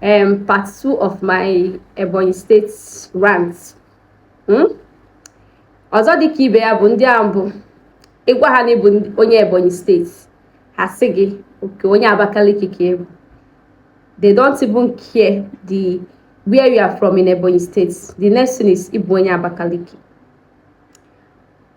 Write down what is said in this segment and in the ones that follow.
um, part two of my Ebonyi State rant hmm? ọzọ dịka ibe ya bụ ndị ahụ bụ ị gwa ha na ị bụ onye Ebonyi steeti ha sị gị okay onye Abakaliki ka ị bụ they don't even care the where you are from in Ebonyi steeti the next thing is ị bụ onye Abakaliki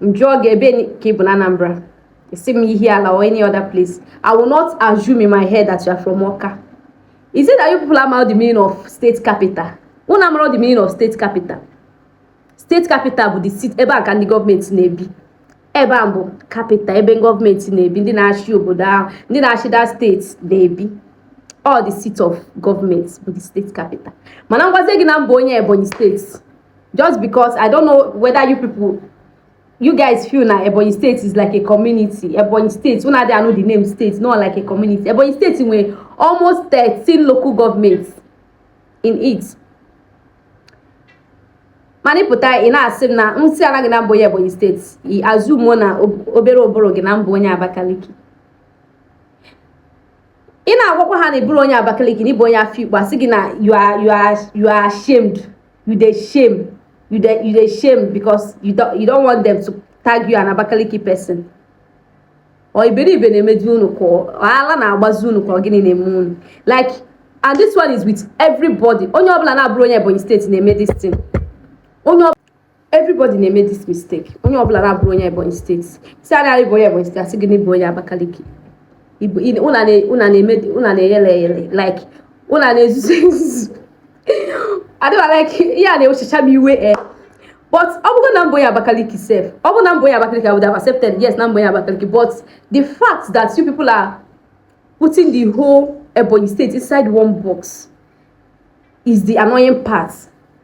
m jụọ gị ebe ka ị bụ na Anambra ị sị m Ihiala or any other place I will not assume in my head that you are from Ọka is it that you people amarọ the meaning of state capital unu amara the meaning of state capital state capital bụ the seat ebe a ka ndị gọọmenti na-ebi ebe a bụ capital ebe gọọmenti na-ebi ndị na-achị obodo ahụ ndị na-achị that steeti na-ebi all the seat of government bụ the state capital mana m gwazie gị na m bụ onye Ebonyi steeti just because i don't know whether you people you guys feel na ebonyi state is like a community ebonyi state una dey know the name state not like a community ebonyi state nwere almost thirteen local governments in it mana ị pụta ị na-asị m na m sịana gị na m bụ onye ebonyi steeti ị assume-ọ na obere ụbụrụ gị na m bụ onye abakaliki ị na-agwakwa ha na ị bụrọ onye abakaliki na ị bụ onye afikpo a sị gị na you are you are you are ashamed you dey shame you dey you dey shame because you don't you don't want them to tag you an abakaliki person ọ iberibe na-emedị unu ka ọ ala na-agbazi unu ka ọ gịnị na-eme unu like and this one is with everybody onye ọbụla na-abụrọ onye ebonyi steeti na-eme this thing onye everybody na-eme this mistake onye ọbụla na-abụrọ onye ebonyi steeti sịa na ị bụ onye ebonyi steeti a sị gị na ị bụ onye abakaliki una na-eyele eyele like una na-ezuzu ezuzu adịba like ihe a na-ewechacha m iwe e but ọ bụrụ na m bụ onye Abakaliki sef ọ bụrụ na m bụ onye Abakaliki I would have accepted yes na m bụ onye Abakaliki but the fact that you people are putting the whole Ebonyi state inside one box is the annoying part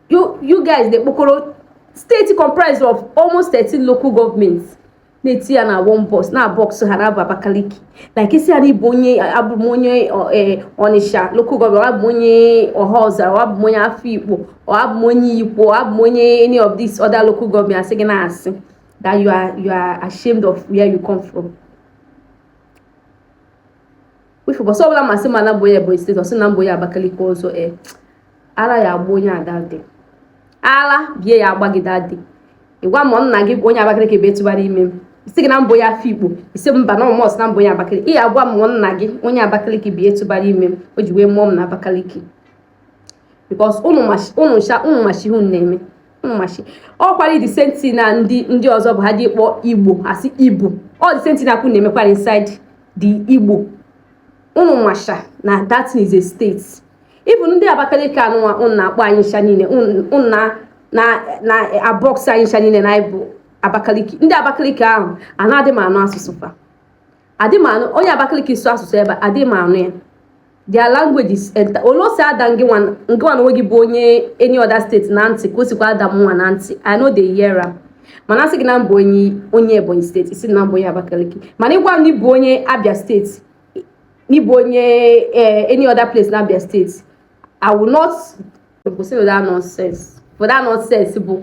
you you guys dey kpokọrọ state comprised of almost 13 local governments na-eti ya na one box na box ahụ na-abụ Abakaliki like ị sịa n'ị bụ onye abụ m onye Onicha local government or abụ m onye Ohaozara or abụ m onye Afikpo or abụ m onye Ikwo or abụ m onye any of this other local government a sị gị na asị that you are you are ashamed of where you come from. wife bọsọ ọbụla m sị na m bụ onye Ebonyi steeti ọ sị na m bụ onye Abakaliki ọzọ e ala ya-agba onye a dadị ala bụ ihe ya-agba gị dadị ị gwa m nna gị onye Abakaliki bụ etụbara ime m sị gị na m bụ onye Afikpo ị sị mba na ọ must na m bụ onye Abakaliki ị ya-agwa m nna gị onye Abakaliki bụ etụbara ime m o ji wee mụọ m na Abakaliki because ụnụ macha ihe unu na-eme mmachi ọ kwarị the same thing na ndị ndị ọzọ bụ ha dị kpọọ igbo asị igbo ọ the same thing na kwụ na-emekwarị inside the igbo ụnụ masha na that is a state even ndị abakaliki anụnwa ụnụ na-akpọ anyị ncha niile ụnụ na-abox anyị ncha niile na ịbụ abakaliki ndị abakaliki ahụ anadị m anụ asụsụ fa adị m anụ onye abakaliki sụ asụsụ ebe adị m anụ ya their language is eh otu o si ada ngịwa ngịwa na onwe gị bụ onye any other state na ntị ka o sikwa ada mụnwa na ntị i no dey hear am mana asị gị na m bụ onye onye ebonyi state i si na m bụ onye abakaliki mana ị gwa m n'ị bụ onye abia state n'ị bụ onye eh, any other place na abia state i will not kwụsị that nonsense for that nonsense bụ